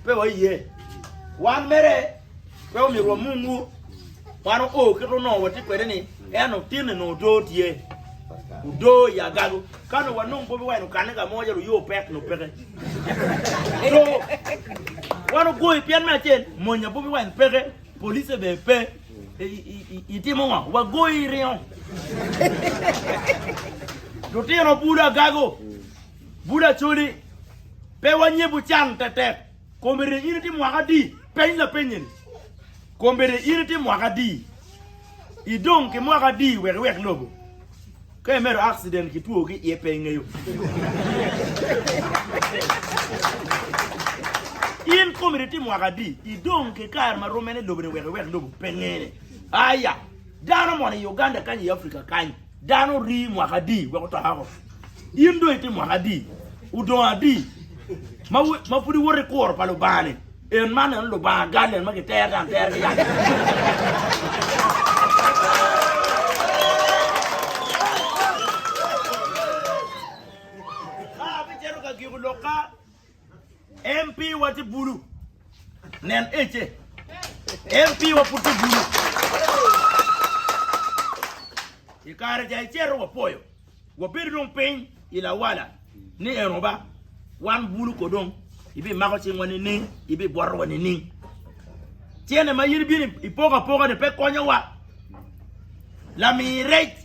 Pe waye. Wan mere pe omyero wamungwu. Wan oo kit onongo watye kwede ni eno tin ni nongo doo tye. Doo i agago. Ka nongo wanongo Bobi Wine okanne ka mo calo oyoo pek nongo peke. Doo. Wan ogoyo pien me acel monya Bobi Wine peke, police bene pe. Itimo ngo? Wagoyi iringo. Lutino bulu agago. Bud Acholi, Pe wanyebu can tetek. Kombedde in itye mwaka adi? Peny lapeny eni, Kombedde in itye mwaka adi? Idong ki mwaka adi wek iwek lobo? Ka imedo akciden ki two ki iye pe ingeyo. In kombedde itye mwaka adi? Idong ki kare ma rommene lobo ni wek iwek lobo? Pe ngene. Aya, dano moni i Uganda kany i Africa kany. Dano orii mwaka adi wek otok oko? In dong itye mwaka adi? Odong adi ma ma pud iwoto i kuro pa Lubanga-ni? En man en Lubanga gal en ma gitero dano atera ki yat. Ka abicito ka giko lok ka. MP wa tye bulu. Nen ece. MP wa pud tye bulu. I kare ja icero wapoyo. Wabedo dong piny i lawala ni eno ba wan bulu ko dong ibi mako cingwa nining ibi bwatowa nining cene ma yin ibini ipoka poka ni pe konyowa lamir rec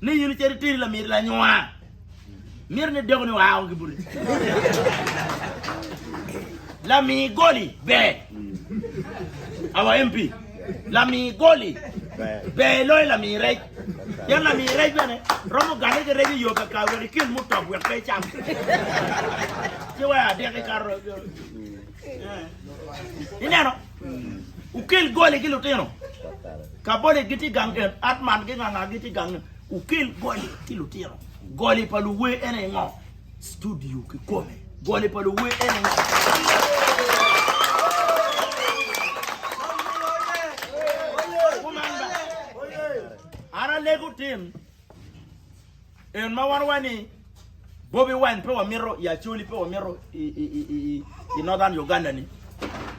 ni yin iceri tiri lamir lanywaa Mito ni dako ni oa oko ki bute. Lami goli ber. Awa MP. Lami goli ber loyo lami rec. Pien lami rec bene romo gane ki rec iyo kakar wek ikil mutop wek pe icam. Ci waya adek ikato. Ineno? Ukel goli ki lutino. Kaboli giti gang en, Atman ki nganga giti gang en. Wukel goli ki lutino. Goli pa luwer ene ngo? Studio ki kome. Goli pa luwer ene ngo? An alego tin en ma wan wani Bobi wine pe wamito i Acholi pe wamito i Northern Uganda ni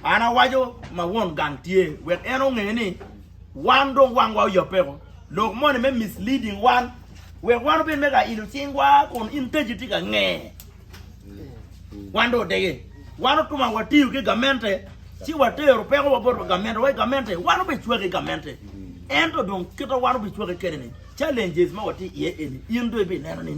an awaco ma won gang tye wek en onge ni wan dong wangwa oyabeko lok moni me misleading wan wek wan obed me ka ilo cingwa kun in teji tye ka nge wan dong odege wan otuma watiyo ki gamente ci watero peko wabot wa gamente wa gamente wan obe cwake gamente ento dong kita wan obe cwake kede ni challenges ma wati iye eni in dong ibe neno ni